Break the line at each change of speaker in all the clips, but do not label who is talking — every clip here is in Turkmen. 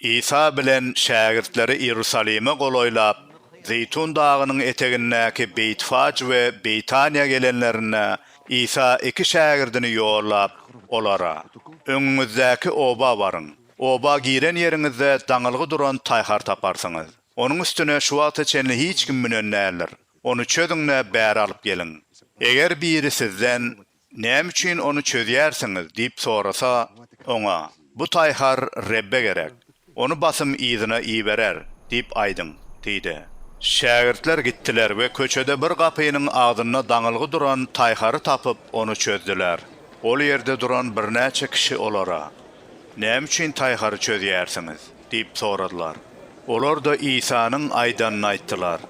Isa bilen şägirtleri Iýerusalime golaýlap, Zeýtun dagynyň etegindäki Beýtfaj we Beýtaniýa gelenlerinde, Isa iki şägirdini ýollap, olara, Öňüňizdäki oba baryň. Oba giren ýeriňizde daňylgy duran taýhar taparsyňyz. Onuň üstüne şu wagta çenli hiç kim münen däldir. Ony çözüň-de, bäri alyp geliň. Eger biri sizden, Näme üçin ony çözýärsiňiz? diýip sorasa, oňa, Bu taýhar Rebbe gerek. Ony basym yzyna iberer diýip aýdyň diýdi. Şägirtler gitdiler we köçede bir gapynyň agzynda daňylgy duran taýhary tapyp, ony çözdüler. Ol ýerde duran birnäçe kişi olara, Näme üçin taýhary çözýärsiňiz? diýip soradylar. Olar-da Isanyň aýdanyny aýtdylar.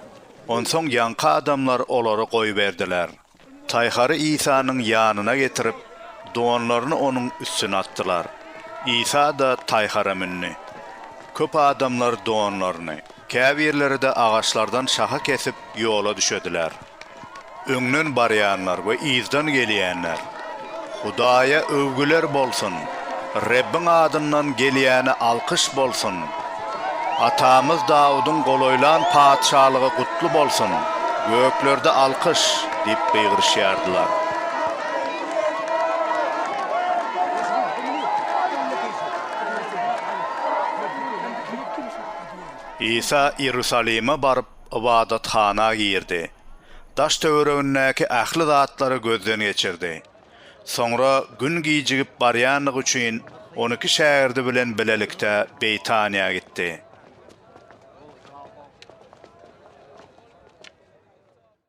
Onsoň ýaňky adamlar olary goýberdiler. Taýhary Isanyň ýanyna getirip, donlaryny onuň üstüne atdylar. Isa-da taýhara mündi. Köp adamlar donlaryny, käbirleri-de agaçlardan şaha kesip, ýola düşediler. Öňden barýanlar we yzdan gelýänler Hudaýa öwgüler bolsun! Rebbiň adyndan gelýäne alkyş bolsun! Atamyz Dawudyň golaýlan patyşalygy gutly bolsun! Göklerde alkyş! diýip gygyryşýardylar. Isa Iýerusalime baryp, ybadathana girdi. Daş-töweregindäki ähli zatlary gözden geçirdi. Soňra gün gijigip barýandygy üçin on iki şägirdi bilen bilelikde Beýtaniýa gitdi.